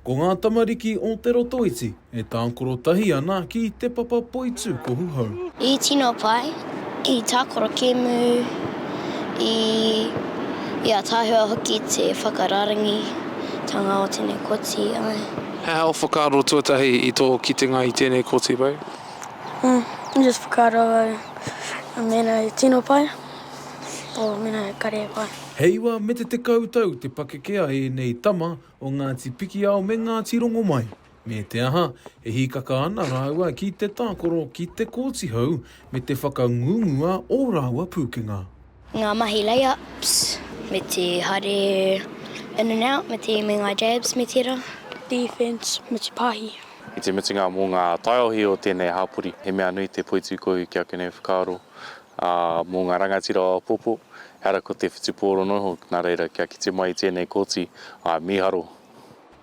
Ko ngā tamariki o Te Rotoiti e tākoro tahi ana ki Te Papa Poitūkohu Hou. I tino pai, i tākoro kēmu, i ataahua hoki te whakarārangitanga o tēnei koti, āe. He aha ō whakaaro tuatahi i tō kitenga i tēnei koti, Ray? Just whakaaro au, mēnā i tino pai. o Manaia-Karewa. He iwa me te tekau tau te pakeke a ēnei tama o Ngāti Pikiao me Ngāti Rongomai. Me te aha, e hīkaka ana rāua ki te tākoro ki Te Kooti Hau me te whakangungu a ō rāua pūkenga. Ngā mahi lay-ups me te haere in and out me te me ngā jabs me tērā. Defence me te pāhi. I te mutunga mō ngā taiohi o tēnei hapori, he mea nui te poitūkohu kia kune whakaaro Ā, mō ngā rangatira o Apopo, ehara ko te whutupōro noa iho, nā reira, kia kite mai i tēnei kōti, āe, mīharo.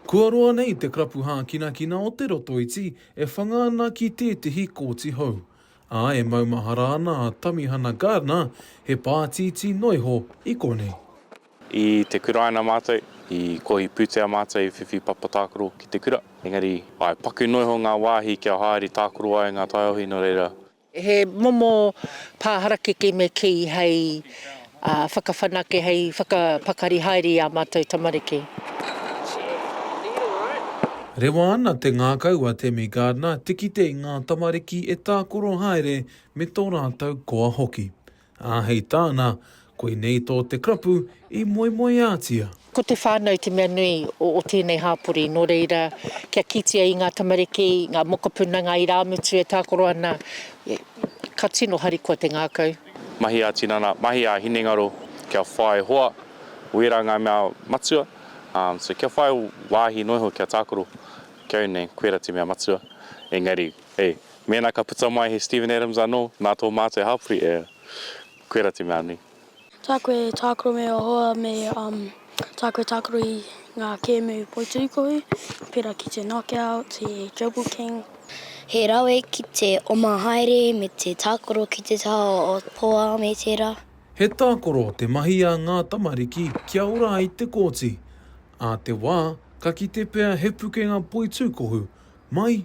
Kua roa nei te karapu hākinakina o Te Rotoiti e whanga ana ki tētehi kōti hou, ā, e maumahara ana a Tamihana Gardner, he pātītī noa iho i konei. I te kuraina mātou, i kohi pūtea mātou i whiwhi papa tākaro ki te kura, engari, āe, paku noa iho ngā wāhi kia haere tākaro ai ngā taiohi, nō reira, He momo pā harakeke me kī hei whakawhanake, hei whakapakari haere i ā mātou tamariki. Rewa ana te ngākau a Tammy Gardiner te kite i ngā tamariki e tākoro haere me tō rātou koa hoki. Ā, hei tāna, Koinei tō te karapu i moemoeātia. Ko te whānau te mea nui o tēnei hāpori, nō reira, kia kitea i ngā tamariki, ngā mokopuna, ngā irāmutu e tākaro ana, ka tino harikoa te ngākau. Mahi ā-tinana, mahi ā-hinengaro, kia whai hoa, wērā ngā mea matua, so kia whai wāhi noa iho kia tākaro, kia au nei, koirā te mea matua, engari. Hei, mēnā ka puta mai he Steven Adams anō, nā tō mātou e hāpori e, koirā te mea nui. Tā koe e tākaro me ō hoa me tā koe tākaro i ngā kēmu poiturikohu, pērā ki te Knockout, te Jobu King. He rawe ki te oma haere me te tākaro ki te taha o Poa me tērā. He tākaro te mahi a ngā tamariki kia ora ai te kōti, ā te wā ka kite pea he pukenga poitūkohu mai